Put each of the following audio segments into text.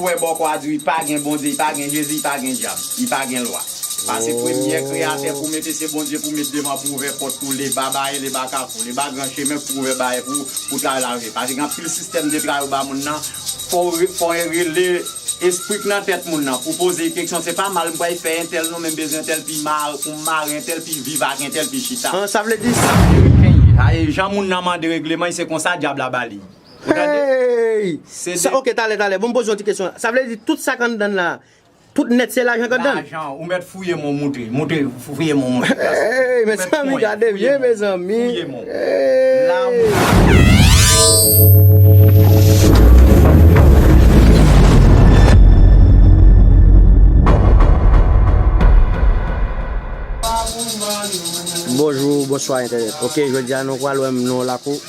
Ou wè bòkò a diw li pa gen Bondye li pa gen Jezi li pa gen dyab li pa gen lwa pase premyè kreyatè pou mete se Bondye pou met devan pou ouvè pòt pou leba baye leba kafou leba gran chemen pou ouvè baye pou pou travay la rive pase gen anpil sistèm de travay ou ba moun nan fòw fòw rele espri k nan tèt moun nan pou poze keksyon se pa mal m pral fè entèl non men m bezwen entèl pi mare pou m mare entèl pi viv ak entèl pi chita an sa vle di sa ameriken ye sa e jan moun nan mande regleman se konsa dyab la ba li. Hey! Sa ok talè talè bon poze yon ti kesyon sa vle di tout sak anndan la tout nèt se lajan k anndan? Lajan ou mèt fouye mon moutre moutre fouye mon moutre la sa. Hey mezanmi gade vye mezanmi hey. Bonjou bonswa entènèt ok jodi a nou pral wè m nan yon lakou.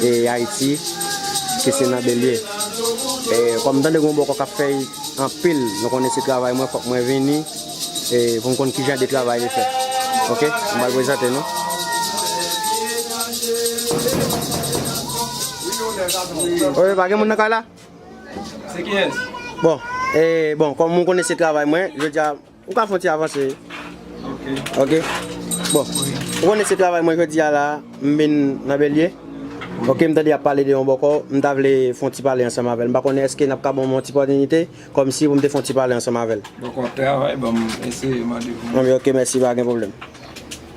e ayiti ki se nan belye e kòm m tande gon bòkò kap fèy anpil nou konnen se travay mwen fòk mwen vini e poum konn kijan de travay li fè ok m pral prezante nou. Oye pa gen moun nan kay la? Se kiyès? Bon e bon kòm ou konnen se travay mwen jodia. Ou ka fon ti avanse ok bon ou konnen se travay mwen jodi a la m vin nan bèlye ok m tande yap pale de yon bòkò m ta vle fon ti pale ansanm avèl m pa konnen èske nap ka banm yon ti pòtinite kòm si pou m te fon ti pale ansanm avèl. Bòkò travay banm eseye mande pou mwen. Ok mèsi pa gen pwoblèm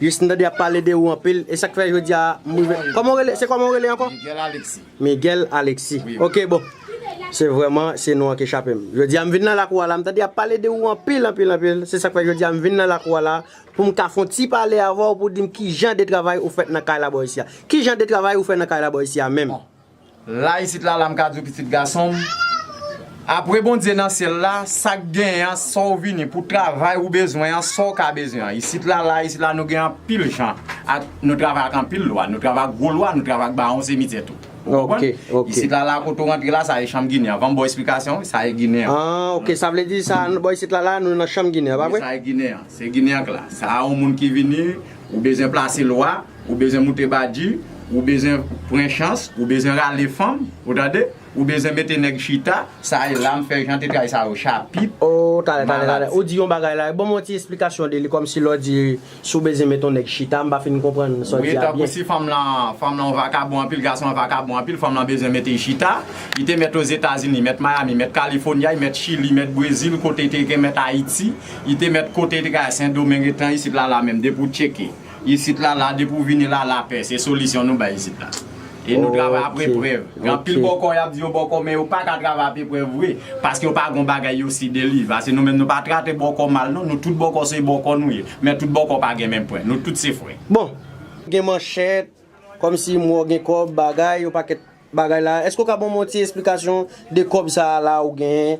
Jis m tande yap pale de ou anpil e sak fè jodi a m rive Koman ou rele se koman ou rele ankò? Miguel Alexis Miguel Alexis ok bon Se vrèman se non an ki chape m Jodi a m vin nan lakou a la m tande yap pale de ou anpil anpil anpil Se sak fè jodi a m vin nan lakou a la Pou m ka fon ti pale avè w pou di m kijan de travay ou fèt nan kay la bò isi a Kijan de travay ou fè nan kay la bò isi a menm? La isit la la m ka di w pitit gason m, apre Bondye nan syèl la, sa k genyen an, sa w vini pou travay ou bezwen an, sa w ka bezwen an. Isit la, la isit la nou gen anpil jan ak, nou travay ak anpil lwa, nou travay ak gwo lwa, nou travay ak bawon semityè tou. Ou konprann? Isit la, la kote w rantre la, sa e chanm Ginen an. Van m ba w esplikasyon wi, sa e Ginen an. An, ok. Sa vle di sa, bò isit la la, nou nan chanm Ginen an, pa vre? Wi, sa e Ginen an. Se Ginen an k la. Sa a on moun ki vini. Ou bezwen plase lwa, ou bezwen moute badi, ou bezwen pran chans, ou bezwen rale fanm, ou tande, ou bezwen mete nèg chita, sa e la m fè jan te tray sa yo chapit, Oh tale tale tale maladi. ou di yon bagay la e banm yon ti esplikasyon de li kòmsi lè w di si w bezwen met yon nèg chita m pa fin konprann sa w Wi di a tankou byen. si fanm lan fanm lan yon vakabon anpil gason an vakabon anpil fanm lan bezwen mete y chita li te mèt Ozetazini mèt Miami mèt California y mèt Chili mèt Brezil kote te gen mèt Ayiti Li te mèt kote li te ka al sendomeng etan isit la la menm depi w tcheke isit la la depi w vini la la pè se solisyon nou bay isit la e nou travay ap eprèv gen anpil bòkò yap di yo bòkò men yo paka travay ap eprèv vre paske yo pa gon bagay yo si deliv ase nou menm nou pa trate bòkò mal non nou tout bòkò se bòkò nou ye men tout bòkò pa gen menm pwen nou tout se frè. Bon! Gen manchèt, kòmsi mò gen kòb, bagay, yon pakèt Bagay la eske ou ka banm yon ti esplikasyon de kob sa a la ou genyen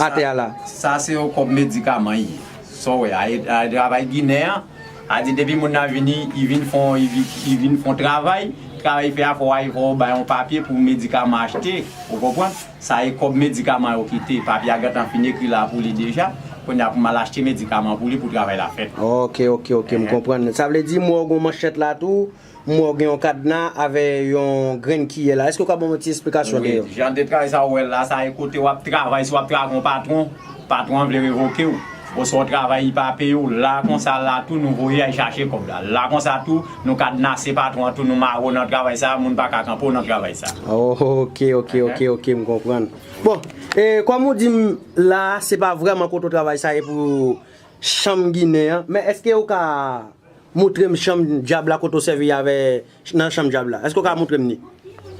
atè a la. Sa se yon kob medikaman yi sa w wè a e travay ginen an a di depi moun nan vini yi vin fon yi vin fon travay travay yi fè a fò a fò ou bay yon papye pou medikaman achte ou konprann sa e kob medikaman yo kite papye a gentan fin ekri la pou li deja kounye a pou mal achte medikaman pou li pou travay la fèt ok ok ok m konprann sa vle di m wè ou gen yon manchèt la tou M wè w gen yon kadna avè yon grenn kiyè la, èske w ka ban mwen ti esplikasyon de yo? Jan de travay sa ou wè la, sa e kote w ap travay, si w ap travay ak yon patwon, patwon an vle revoke w, oswa w travay li pa peye w, la konsa la tou nou voye al chache kòb la. La konsa tou, nou kadnase patwon an tou, nou mare w nan travay sa, moun pa ka kanpe w nan travay sa. Ok, ok, ok, ok, m konprann. Bon, e kòm ou di m la se pa vrèman kote w travay sa e pou chanm ginen an, men èske ou ka Moutrem chanm dyab la kote w sèvi avè nan chanm dyab la. Eske w ka moutrem ni?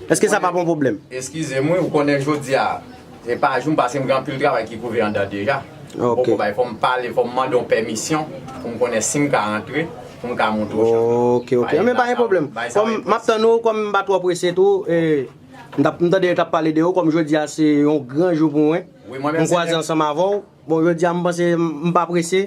Eske sa pap yon pwoblèm? Eskize m wi, ou konnen jodi a e pa jou m pase m gen anpil travay ki kouve andan deja. M poko bay, fò m pale, fò m mande yon pèmisyon pou m konnen si m ka rantre pou m ka moutre w chanm nan. Ok, ok. Anben pa gen pwoblèm. Kòm m ap tann ou, kòm m pa twò prese tou e m tap, m tande yo tap pale de ou, kòm jodi a se yon gran jou pou mwen. M kwaze ansanm avè w. Bon jodi a m panse m pa prese,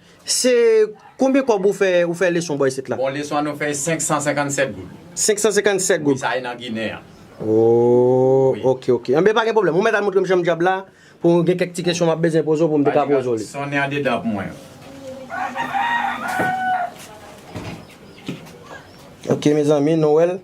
Se konbyen kòb ou fè ou fè leson bò isit la? Bon leson an nou fè 557 goud. 557 goud? Wi sa e nan ginen an. Ooh ok ok. Anben pa gen pwoblèm. Ou mèt al montre m janm djab la pou gen kèk ti kesyon m ap bezwen poze w pou m te ka poze w li. Sonnen andedan pou mwen. Ok mezanmi nou wè l.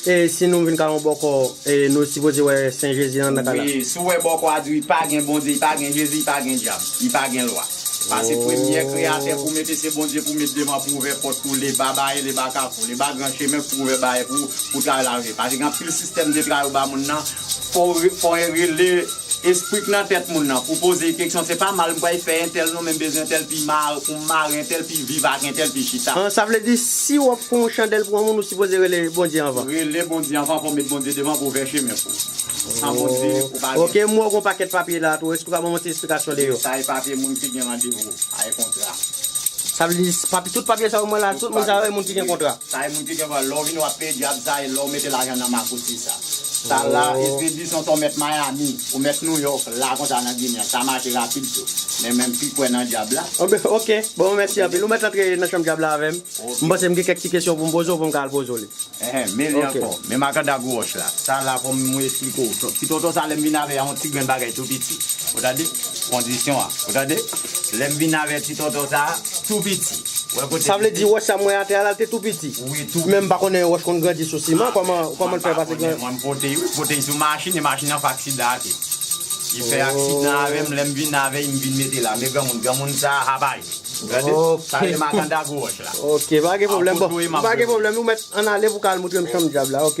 E si nou vin ka yon bòkò e nou sipoze wè sen Jezi nan nan ka la. Wi, si w wè bòkò a di w pa gen Bondye, pa gen Jezi, pa gen dyab, li pa gen lwa. Pase premyè kreyatè pou w mete se Bondye pou w met devan pou ouvè pòt pou le ba baye le ba kafou, le ba gran chemen pou ouvè baye pou pou travay la rive. Pase gen anpil sistèm de travay ou ba moun nan fò w fò w rele. Esprit nan tèt moun nan pou poze keksyon se pa mal m pral fè entèl non men m bezwen entèl pi mare pou m mare entèl pi viv ak entèl pi chita. An sa vle di si wap pran yon chandèl pou yon moun ou sipoze rele Bondye anvan. Rele Bondye anvan fò met Bondye devan pou ouvè chemen pou ou. San Bondye ou pa gen. Ok m wè w gon pakèt papye la tou èske ou ka ban mwen ti esplikasyon de yo. Wi sa e papye moun ki gen randevou, sa e kontra. Sa vle di papye tout papye sa yo m wè la tout moun sa yo e moun ki gen kontra. Sa e moun ki gen kontra lè w vini wap peye dyab sa e lè w mete lajan nan makouti sa. Sa la Espedri son to met Miami ou met New York la konsa nan Ginen sa mache rapid tou men men pi kwè nan dyab la. Ok bon mèsi anpil ou mèt antre nan chanm dyab la avèm m panse m gen kèk ti kesyon poum poze w poum ka al poze w li. Ehe mele ankò men makanda gwo wòch la sa la fòm mwen esplike w ti tonton sa lèm vin avè a yon ti grenn bagay tou piti ou tande kondisyon a ou tande. Lè m vin avè ti tonton sa a, tou piti. Wè kote. Sa vle di wòch sa m wè atè a la l te tou piti? Wi, tou piti. Men m pa konnen yon wòch konn grandi sou siman, kòman l fè pase gran. Mwen m pote l, pote l sou machin e machin nan fè aksidan ak li. Li fè aksidan avè m, lè m vin avè l m vin mete l a. Men granmoun, granmoun sa a haba yo. Gade, sa rele makanda gwo wòch la. Ok, pa gen pwoblèm. Bon, pa gen pwoblèm, ou mèt ann ale pou w ka al montre m chanm dyab la, ok.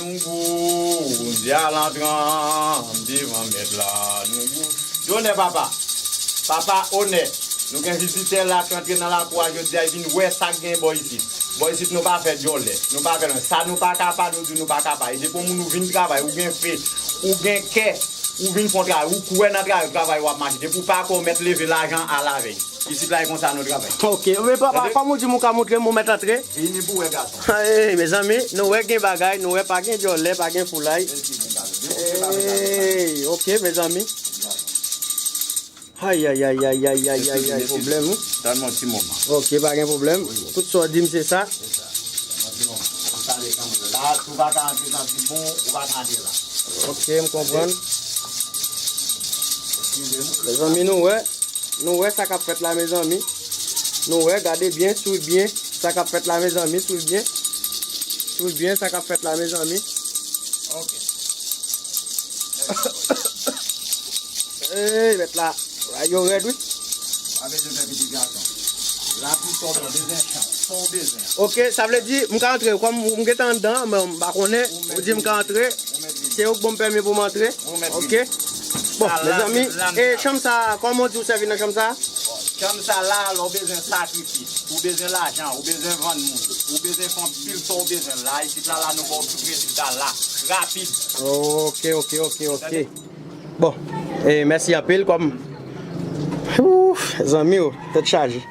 Nou gou, Bondye al antranm devan mèt la nou gou. Donè papa! Papa onè! Nou gen vizitè la k rantre nan lakou a jodi a y vin wè sa k gen bò isit. Bò isit nou pa fè djòlè, nou pa fè lanj. Sa nou pa ka pa nou di nou pa ka pa. E depi yon moun ou vin travay, ou gen fe, ou gen kè, ou vin fon travay, ou kwè nan travay, travay ou ap mache. Depi w pa kwè ou mèt leve lajan alavèy. Isit la e konsa nou travay. Ok. Men papa, kòm ou di m ou ka montre m, ou mèt antre. Vini pou wè gason. Hey mezanmi nou wè gen bagay nou wè pa gen djòlè pa gen foulay hey ok mezanmi ayayayayayayayay problem wi Tann mwen ti moman ok pa gen problem tout sa w di m se sa ok m konprann mezanmi nou wè. Nou wè sa kap fèt la mezanmi nou wè gade byen swiv byen sa kap fèt la mezanmi swiv byen swiv byen sa kap fèt la mezanmi ok eeyy mèt la bagay yo rèd wi pa bezwen fè pitit gason la pou sòl mwen bezwen chat sa w bezwen ok sa vle di m ka antre kòm m gentan anndan men m pa konnen ou di m ka antre se ou k banm pèmi pou m antre ok. Bon mezanmi e chanm sa koman w di w sèvi nan chanm sa? Chanm sa la lè w bezwen sakrifis, ou bezwen lajan, ou bezwen vann moun, ou bezwen fè anpil sa w bezwen la isit la la nou ba w tout rezilta la rapid. Ok ok ok ok bon e mèsi anpil kòm ooh zanmi o tèt chaje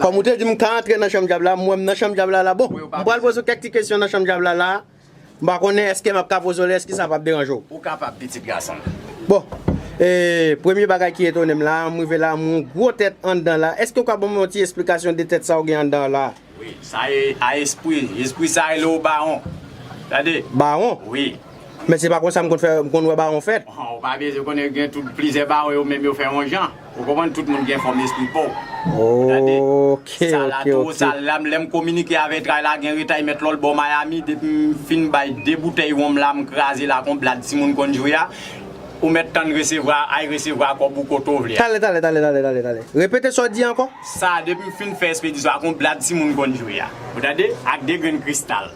kòm ou te di m ka antre nan chanm djab la m wè m nan chanm djab la la bon m pral poze w kèk ti kesyon nan chanm djab la la. M pa konnen eske m ap ka poze w li, èske sa pap deranje w? Ou kapab, pitit gason m. Bon, e, premye bagay ki etone m la a, m rive la a, m wè yon gwo tèt anndan la a. Èske ou ka ban mwen yon ti esplikasyon de tèt sa ou gen anndan w la a? Wi, sa e a espri. Espri sa a rele ou bawon. Tande. Bawon? Wi. Men se pa konsa m konn fè, m konn wè bawon fèt. Ou pa byen konnen gen tout plizyè bawon yo menm yo fè yon jan. Ou konprann tout moun gen fòm espri paw tande sa la tou sa la lèm kominike avè tray la gen retay mèt lòl bò miami depim fin bay 2 boutèy wonm la m krazel ak on blad timoun konn jwe a ou mèt tann resevwa ay resevwa kòb ou kote w vle a. Tale tale tale tale tale repete sa w di ankò. Sa depim fin fè espedisyon ak on blad timoun konn jwe a ou tande ak 2 grenn kristal.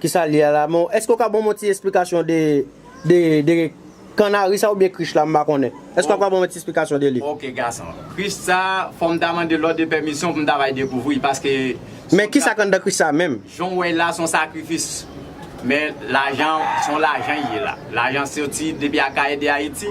Kisal ye a la men eske ou ka banm yon ti esplikasyon de de de kannari sa oubyen krich la m pa konnen eske wap ka banm yon ti esplikasyon de li. Ok gason. Krich sa fòm ta mande lòt de pèmisyon poum ta bay dekouvri paske Men kisa k anndan krich sa menm? Janw wèl la son sakrifis men lajan son lajan ye la lajan soti depi akayè de ayiti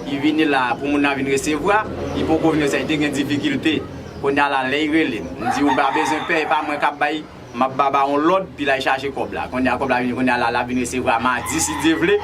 li vini la pou moun nan vin resevwa li poko vin resevwa li te gen difikilte kounya la lèy relem m di ou pa bezwen pè epa mwen kap bay Map baba yon lòd pi lay chaje kòb la konnya kòb la vini konnya la lap vin resevwa madi si Dye vle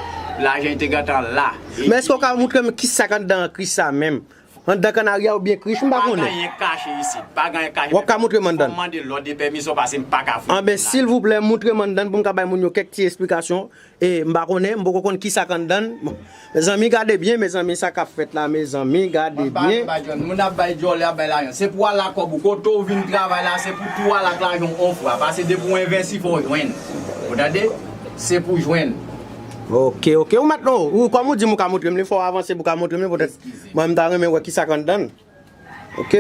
lajan te gentan la e Men eske ou ka moutrem kisak anndan krich sa menm? Anndan kanarya oubyen krich m pa konnen. Pa ganyen kache isit. Pa ganyen kache. Wap ka moutrem anndan. Fòm mande lòd e pèmisyon pase m paka fouye. Anben silvouplè moutrem anndan poum ka bay moun yo kèk ti esplikasyon E m pa konnen, m poko konn kisa k anndan l. Mezanmi gade byen mezanmi sa kap fèt la mezanmi gade byen. Moun ap bay dyòlè ap bay lajan se pou ala kòb ou kote ou vin travay la se pou tou ala ak lajan w on fwa pase depi w envensi fò w jwenn ou tande se pou jwenn. Ok ok ou mèt non ou kòm ou di m ou ka montre m li fò w avanse pou w ka montre m li poutèt mwen m ta renmen wè kisa k anndan l. Ok.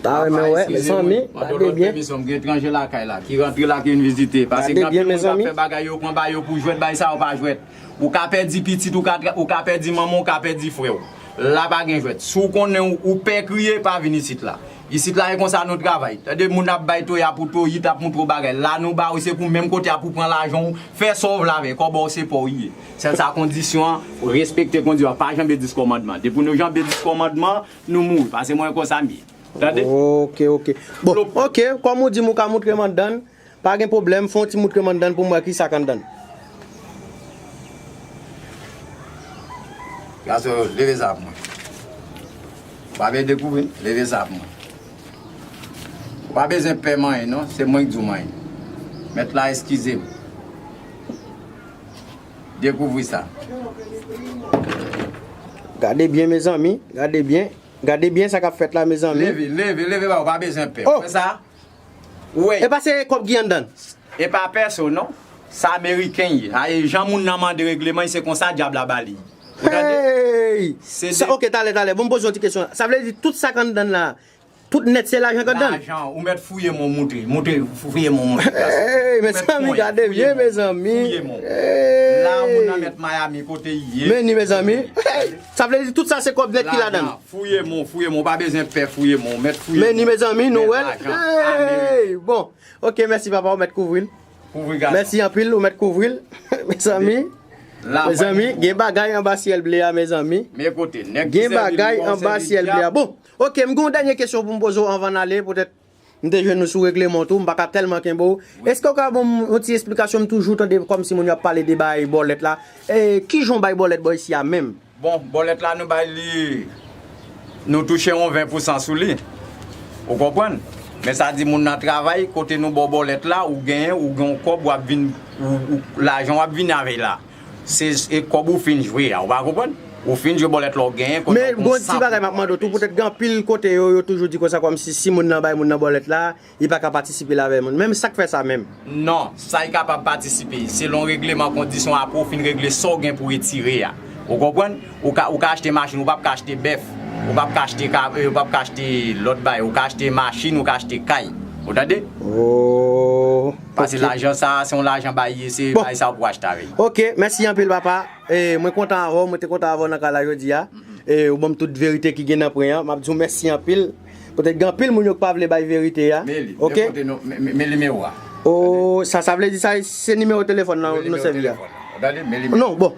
Ta renmen wè mezanmi. Gade byen. Gen etranje lakay la ki rantre la ki vin vizite. Pase gen anpil moun kap fè bagay yo pran ba yo pou jwèt bay sa yo pa jwèt. Ou ka pèdi pitit ou ou ka pèdi manman ou ka pèdi frè ou. La pa gen jwèt. Si w konnen ou pè kriye pa vin isit la. Isit la e konsa nou travay. Tande moun ap bay toya pou toyi tap montre w bagay. La nou ba ou se pou menm kote a pou pran lajan ou. Fè sa w vle avè l. Kòb ou se pa w li ye. Sèl sa kondisyon an, respekte kondi an, pa janbe 10 kòmandman. Depi nou janbe 10 kòmandman, nou mouri. Pase mwen konsa m ye. Tande? Ok, ok. Bon, ok, kòm ou di m ou ka moutre m anndan l, pa gen pwoblèm, fè yon ti moutre m anndan l pou m wè ki sa k anndan l. Gason yo, leve sa pou mwen. Ou pa vle dekouvri? Leve sa pou mwen. Ou pa bezwen pè manyen non, se mwen k di w manyen. Mèt la eskize m. Dekouvri sa. Gade byen mezanmi, gade byen. Gade byen sa kap fèt la mezanmi. Leve, leve, leve ba ou pa bezwen pè. Ou wè sa? Ou wè? Epa se kòb ki anndan? Epa pèso non. Sa ameriken ye. A e jan moun nan mande regleman li se konsa dyab la ba li. Ou tande? Hey! Se de. Ok talè talè bon m poze yon ti kesyon. Sa vle di tout sa k anndan la. Tout net se lajan kap dan. Lajan ou met fouye mon moutre moutre fouye mon moutre plas. Eyy mezanmi gade byen mezanmi eyy. La ou nan met Miami kote ye. Meni mezanmi eyy sa vle di tout sa se kob net ki ladan. Lajan fouye mon fouye mon ou pa bezwen pè fouye mon ou met fouye mon. Meni mezanmi nou wel eyy bon ok mèsi papa ou met kouvril. Kouvri gadon. Mèsi anpil ou met kouvril mezanmi. Mezanmi gen bagay anba syel ble a mezanmi. Men kote neg ki sèvi nou an se li diab. Gen bagay anba syel ble a bon. Ok m gen yon dènye kesyon pou m poze w anvan n ale poutèt m te jwenn ou sou regleman w tou m pa ka tèlman kenbe w eske w ka ban m yon ti esplikasyon m toujou tande kòmsi moun yo ap pale de bay bòlèt la kijan w bay bòlèt bò isi a menm? Bon bòlèt la nou bay li nou touche yon 20 pou san sou li ou konprann men sa di moun nan travay kote nou ba w bòlèt la ou genyen ou gen yon kòb w ap vin lajan w ap vini avè l la. Se kob ou fin jwe a ou pa konprann? Ou fin jwe bòlèt la ou genyen konnen ou gon 100 pou ou ale jwe. Petèt gen anpil kote yo, yo toujou di konsa kòmsi si moun nan bay moun nan bòlèt la, li pa ka patisipe la avè moun. Men sak fè sa menm? Non, sa li kapab patisipe. Selon regleman kondisyon apre ou fin regle sa ou gen pou retire a. Ou konprann? Ou ka ou ka achte machin ou pap ka achte bèf. Ou pap ka achte ka ou pap ka achte lòt bagay. Ou ka achte machin ou ka achte kay. Ou tande? Ohh. Paske lajan sa a se yon lajan bay li ye se bay sa ou pou achte avèk. Ok mèsi anpil papa e mwen kontan avèw mwen te kontan avèw nan kay la jodia e ou banm tout verite ki gen nan pwen an map diw mèsi anpil petèt gen anpil moun yo k pa vle bay verite a ok. Men nimewo a. Ohh sa sa vle di sa se nimewo telefòn nan nou sèvi a. Non bon.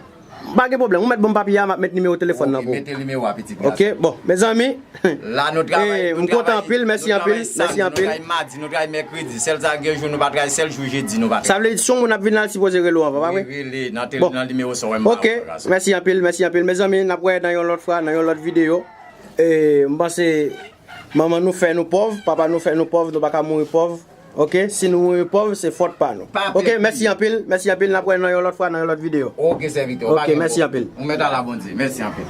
Pa gen pwoblèm, ou mèt banm papye a map met nimewo telefòn nan pou ou. Ok, mete nimewo a pitit gason. Ok, bon, mezanmi, m kontan anpil, mèsi anpil, mèsi anpil. Nou travay samdi, nou travay madi, nou travay mèkredi, sèl sa gen jou nou pa travay, sèl jou jedi nou pa travay. Sa vle di si yon moun ap vin la l sipoze rele w anvan, pa vre? Wi, rele nan nimewo sa w wè m ba ou a gason. Ok, mèsi anpil, mèsi anpil. Mezanmi, nap wè nan yon lòt fwa, nan yon lòt videyo. M panse manman nou fè nou pòv, papa nou fè nou pòv, nou pa ka mouri pòv. Ok si nou mouri pòv se fòt pa nou ok mèsi anpil mèsi anpil nap wè nan yon lòt fwa nan yon lòt video ok sèvitè ou pa gen mo ok mèsi anpil ou mèt ala Bondye mèsi anpil.